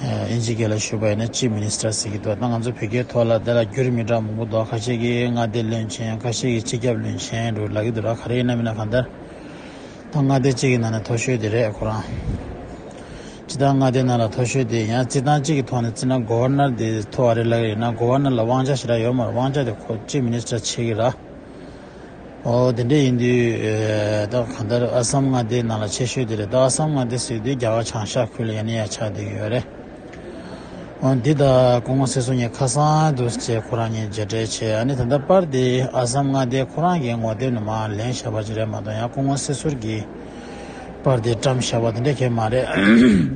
དབྱིན་ཇི་སྐད་ལ་ཞུ་བ་ཡིན་ན་ཅི་མི་ནི་སྟྲ་ཟེར་གི་འདུག་ང་ཚོ་བོད་སྐད་ཐོག་ལ་དེ་ལ་འགྱུར་མི་འདྲ་མང་པོ་འདུག་ཁ་ཤས་ཀྱི་མངའ་སྡེ་བློན་ཆེན་ཁ་ཤས་ཀྱི་སྤྱི་ཁྱབ་བློན་ཆེན་རུ་ལ་གི་འདུག་ག་རེ་ཡིན་ན་མིན་ན་གང་ལྟར་ད་མངའ་སྡེ་གཅིག་གི་ནང་ནས་མཐོ་ཤོས་དེ་རེད་ཁོ་རང་ཇི་ལྟར་མངའ་སྡེ་ནང་ལ་མཐོ་ཤོས་དེ་ཡང་རྩིས་ཐང་གཅིག་གི་ཐོག་ནས་རྩིས་ན་གོ་བར་ནར་དེ་མཐོ་བ་རེད་ལ་ཡིན་ན་གོ་བར་ནར་ལ་དབང་ཆ་ཞེ་དྲག་ཡོད་མ་རེད་དབང་ཆ་དེ་ཁོ་ཅི་མི་ནི་སྟྲ་བྱེད་གི་ར། ཨོ་དེ་འདྲ་ཡིན་དུས་ད་གང་ལྟར་ཨ་སམ་མངའ་སྡེའི་ནང་ལ་ཆེ་ཤོས་དེ་རེད་ད་ཨ་སམ་མངའ་སྡེ་ཟེར་དུས་རྒྱ་གར་བྱང་ཤར་ཁུལ་ལ་ཡང་ནས་ཡང་ཆགས་དུས་ཡོད་རེད་འོན་འདི་ད་ཀོང་མོ་སེར་སོ་ངས་ཁ་སང་དུ་བྱས་ཁོ་རང་གཉིས་མཇལ་འཕྲད་བྱས་ཨ་ནི་ད་ལྟ་པར་དེ་ཨ་སམ་མངའ་སྡེའི་ཁོ་རང་གི་ངོ་དེབ་ནང་མ་ལེན་བྱས་པ་ཅི་རེད་མ་གཏོགས་ཡང་ཀོང་མོ་སེར་སོར་གྱིས་པར་དེ་བཀྲམ་བཞག་པ་དེ་འདྲ་ཁེ་མ་རེད་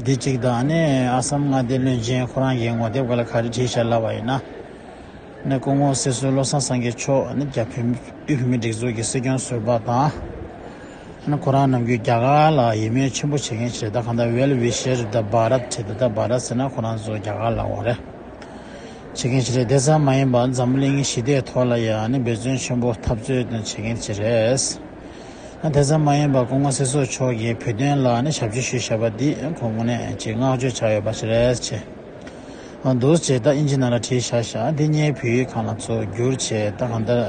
དེ་གཅིག་དང་ཨ་ནི་ཨ་སམ་མངའ་སྡེའི་བློན་ཆེན་ཁོ་རང་གི་ངོ་དེབ་ག་ལ་ག་རེ་བྲིས་བཞག་སླ་བ་ཡིན་ན། ནས་སྐུ་ངོ་སྲིད་གསོལ་བློ་བཟང་སངས་རྒྱས་མཆོག་ནི་རྒྱ་བོད་དབུས་བོད་མིའི་སྒྲིག་འཛུགས་ཀྱི་སྲིད་སྐྱོང་ཟུར་པ་དང། ཁོ་རང་ནམ་རྒྱུན་རྒྱ་གར་ལ་ཡིད་སྨོན་ཆེན་པོ་བྱེད་མཁན་ཞེ་ད་གང་ད་ཝེལ་བྷི་ཤེར་ད་བྷ་རད་ཁྲི་ད་ད་བྷ་རད་ཟེར་ན་ཁོ་རང་ཚོ་རྒྱ་གར་ལ་འོང་རེ་བྱེད་མཁན་ཞིག་རེད་དེ་ཙམ་མ་ཡིན་པར་འཛམ་གླིང་ཞི་བདེའི་ཐོག་ལ་ཡང་འབད་བརྩོན་ཆེན་པོ་འཐབ་རྩོད་བྱེད་མཁན་ཞིག་རེད། དེ་ཙམ་མ་ཡིན་པར་སྐུ་ངོ་སྲིད་གསོལ་མཆོག་གིས་བོད་དོན་ལ་ཞབས་ཕྱི་ཞུས་བཞག་པ་འདིས་ཁོང་ངོ་ནས་ཀྱི་བསྔགས་བརྗོད་བྱ་འོས་པ་ཞིག་རེད། འདུ་བྱེད་ད་ཨིན་ཅི་ན་ལ་བྲིས་ཤ་ཤ་འདི་སྙེད་བོད་ཡིག་གང་ལ་བཙུགས་བསྒྱུར་བྱེད་ད་གང་ལྟར་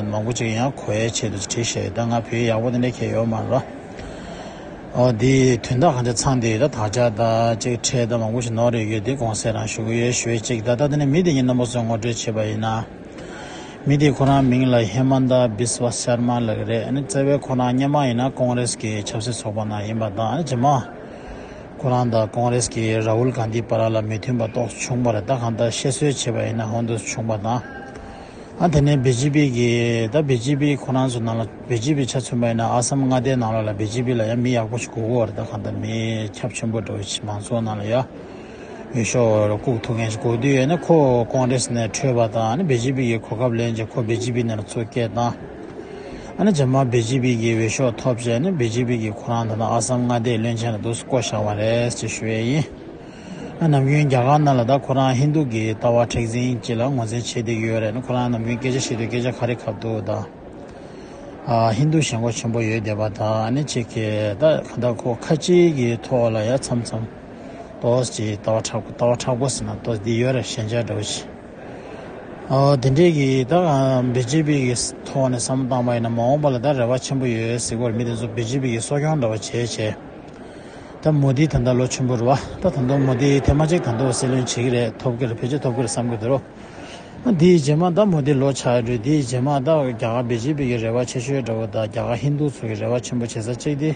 མང་པོ་ཅིག་ཡང་གོ་ཡའི་ཆེད་དུ་བྲིས་ཤ་ཡོད་ད་ང་བོད་ཡིག་ཡག་པོ་དེ་འདྲ་ཁྱེད་ཡོད་མ་རེད་པ་འོ་དེ་དོན་དག་གང་ཅིག་ཚང་དེ་ཡོད་ད་དག་ཅག་ད་ཅིག་ཁྲལ་ད་མང་པོ་ཞིག་ནོར་ཡོད་ཡོད་དེ་དགོངས་སེལ་རང་ཞུ་གི་ཡོད་ཞུས་ཅིག་ད་ལྟ་དེ་ནས་མི་དེ་གཉིས་རྣམ་པ་ཚོས་ངོ་སྤྲོད་བྱེད་པ་ཡིན་ན་མི་དེ་ཁོ་རང་མིང་ལ་ཧེ་མཱན་ད་བིས་བྷ་ཤར་མཱ་ལགས་རེད་བཙལ་བས་ཁོ་རང་རྙེད་མ་ཡིན་ན་ཀོང་རེས་ཀྱི་ཆབ་སྲིད་ཚོགས་པ་ནང་ཡིན་པ་དང་རྗེས་མ། ཁོ་རང་དང་ཀོང་རེས་ཀྱིས་ར་ཧུལ་གྷན་དྷིའི་བར་ལ་མི་མཐུན་པ་རྟོགས་བྱུང་བར་ད་གང་ལྟར་བཤད་སྲོལ་བྱས་པ་ཡིན་ན་ཧོན་དུ་བྱུང་བ་དང། ཨ་དེ་ནས་བི་ཇི་པི་གིས་ད་བི་ཇི་པི་ཁོ་རང་ཚོའི་ནང་ལ་བི་ཇི་པི་ཆ་མཚོན་པ་ཡིན་ན་ཨ་སམ་མངའ་སྡེའི་ནང་ལ་ལ་བི་ཇི་པི་ལ་ཡང་མི་ཡག་པོ་ཞིག་དགོས་གོ་ད་གང་ལྟར་མི་ཁྱབ་ཆེན་པོ་འགྲོ་ཕྱི་མང་ཚོགས་ནང་ལ་ཡ་འོས་ཤོག་འོས་ལ་ལྐུགས་ཐུབ་མཁན་ཞིག་དགོས་དུས་ཡོད་ན་ཁོ་ཀོང་རེས་ནས་འཕྲོས་པ་དང་ནི་བི་ཇི་པི་གིས་གོ་སྐབས་ལེན་ཅིང་ཁོ་བི་ཇི་པི་ནང་ལ་ཚུར་བསྐྱལ་དང། ཨ་ནི་རྗེས་མ་བི་ཇི་པི་གི་འོས་ཤོག་ཐོབ་རྗེས་ནི་བི་ཇི་པི་གིས་ཁོ་རང་ད་དུང་ཨ་སམ་མངའ་སྡེའི་བློན་ཆེན་ལ་འདུག་སྲིད་བསྐོ་བཞག་བ་རེད་ཅེས་ཞུ་ཡས་ཡིན། ཨ་ནམ་རྒྱུན་རྒྱ་གར་ནང་ལ་ད་ཁོ་རང་ཧིན་དུ་གི་ལྟ་བ་མཁྲེགས་འཛིན་གྱི་ལ་ངོ་འཛིན་བྱེད་དེ་ཡོད་རེད་ནི་ཁོ་རང་ནམ་རྒྱུན་སྐད་ཆ་བཤད་དུས་སྐད་ཆ་ག་རེ་གབ་འདུག་ད། ཨ་ཧིན་དུ་ཞེན་ཁོག་ཆེན་པོ་ཡོད་བསྡད་པ་ད་ཨ་ནི་ཅིག་གི་ད་ག་འདྲ་ཁོ་ཁ་ཅིག་གི་ཐོག་ལ་ཡ་མཚམས་མཚམས། ཏོས་ཀྱི་ལྟ་བ་ཁྲག་པོ་ལྟ་བ་ཁྲག་པོ་ཟེར་ན་ཏོས་འདི་ཡོད་རེད་ཞེན་ཆགས་འདྲ་བོ་བྱེད། དེ་འབྲེལ་གྱི་ད་བར་བེ་ཅི་ཕི་ཡི་ཐོག་ནས་བསམ་བློ་བཏང་པ་ཡིན་ན་མ་འོངས་པ་ལ་ད་རེ་བ་ཆེན་པོ་ཡོད་ཟེར་བར་མི་དེ་ཚོ་བེ་ཅི་ཕི་ཡི་གསོ་སྐྱོང་འདྲ་བ་བྱས་བྱས་ད་མོ་དི་ད་ད་ལོ་ཆེན་པོ་རེ་བ་ད་ད་དུང་མོ་དི་དེ་མ་གཅིག་ད་ད་བ་སྲིད་བློན་བྱེད་ཀྱི་རེད་ཐོབ་ཀྱི་རེད་བེད་སྤྱོད་ཐོབ་ཀྱི་རེད་བསམ་གྱི་འདུག་རོ་དེ་ཡི་རྗེས་མ་ད་མོ་དི་ལོ་ཆགས་ཡོད་རེད་དེ་ཡི་རྗེས་མ་ད་རྒྱ་གར་བེ་ཅི་ཕི་ཡི་རེ་བ་ཆེ་ཤོས་འདྲ་བོ་ད་རྒྱ་གར་ཧིན་རྡུ་ཚོ་གི་རེ་བ་ཆེན་པོ་བྱེད་ས་གཅིག་དེ།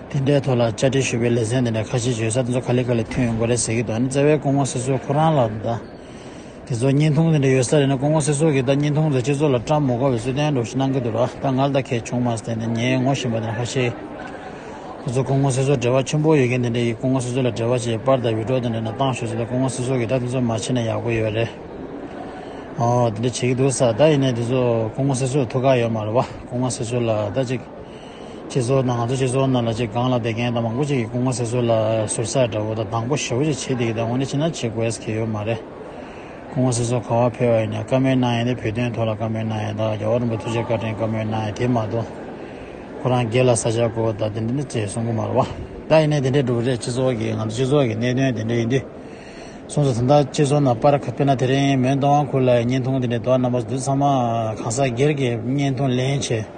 དེ་འདྲའི་ཐོག་ལ་བཅར་འདྲི་ཞུས་པའི་ལེ་ཚན་འདི་ནས་ཁ་ཆེའི་བརྗོད་བྱ་དེ་ཚོ་ག་ལེ་ག་ལེ་ཐོན་ཡོང་གི་རེད་ཟེར་གྱི་འདུག་ཨ་ནི་བཙལ་བའི་སྐུ་ངོ་སི་སོའི་ཁོ་རང་ལ་ད། དེ་ཚོ་བརྙན་ཐུང་དེ་འདྲ་ཡོད་ས་རེད་ན་སྐུ་ངོ་སི་སོ་གིས་ད་བརྙན་ཐུང་དེ་སྤྱི་ཚོགས་ལ་བཀྲ་མི་གོ་བའི་ཚུལ་བསྟན་འགྲོ་བཞིན་གནང་གི་འདུག་ལ་ད་ང་ལ་ད་ཁེ་བྱུང་མ་ཟད་ནས་ངས་ངོ་བཞིན་པ་དེ་ནི་ཁ་ཆེའི་ཁོ་ཚོ་སྐུ་ངོ་སི་སོར་འབྲེལ་བ་ཆེན་པོ་ཡོད་མཁན་དེ་འདྲ་ཡིས་སྐུ་ངོ་སི་སོ་ལ་འབྲེལ་བ་བྱེད་པར་ད་བི་ཀྲོ་དེ་འདྲ་ནས་བཏང་ཞོག་ཟེར་ལ་སྐུ་ངོ་སི་སོ་གིས་ད་དེ་ཚོ་མ་བྱེད་ན་ཡག་པོ་ཡོད་རེད་འོ་དེ་འདྲ་བྱེད་ཀྱི་འདུག་ས་ད་ཡིན་ནས་དེ་ཚོ་སྐུ་ངོ་སི་སོར་ཐུགས་ཁག་ཡོད་མ་རེད་བ་སྐུ་ངོ་སི་སོ་ལ་ད་ཅིག། སྤྱི་ཚོགས་ནང་ང་ཚོ་སྤྱི་ཚོགས་ནང་ལ་ཅིག་སྒང་ལ་བསྡད་མཁན་དང་མང་པོ་ཅིག་གིས་སྐུ་ངོ་ཟེར་ཚུལ་ལ་ཟུར་ཟ་འདྲ་བོ་དང་སྡང་པོ་ཞེ་བོ་ཅིག་བྱེད་དེ་གི་ད་ངོ་ནི་ཅི་འདྲ་བྱེད་དགོས་ཀྱི་ཡོད་མ་རེད། སྐུ་ངོ་ཟེར་ཚུལ་ག་བ་ཕེར་བ་ཡིན་ན་བཀའ་མོལ་གནང་ཡས་དེ་བོད་དོན་ཐོག་ལ་བཀའ་མོལ་གནང་ཡས་དང་རྒྱ་བོ་རིན་པོ་ཐུགས་རྗེ་བཀའ་དྲིན་བཀའ་མོལ་གནང་ཡས་དེ་མ་གཏོགས་ཁོ་རང་སྒེར་ལ་ས་ཆ་བགོ་བ་དང་དེ་འདྲ་འདྲ་བྱེད་གསུང་གི་མ་རེད་བ། ད་ཡིན་ནའི་དེ་འདྲས་འགྲུབ་རེད་སྤྱི་ཚོགས་ཀྱི་ང་ཚོ་སྤྱི་ཚོགས་ཀྱི་གནད་དོན་དེ་འདྲས་ཡིན་དུས། གསུང་ཚུལ་དེ་འདྲ་སྤྱི་ཚོགས་ནང་པར་ཁ་ཕེར་ན་དེ་རིང་མོན་རྟ་དབང་ཁུལ་ལ་ཡི་བརྙན་ཐུང་དེ་འདྲས་འདུག་བ་རྣམ་པ་འདི་ཚང་མ་གང་ཟག་སྒེར་གྱི་བརྙན་ཐུང་ལེན་བྱེད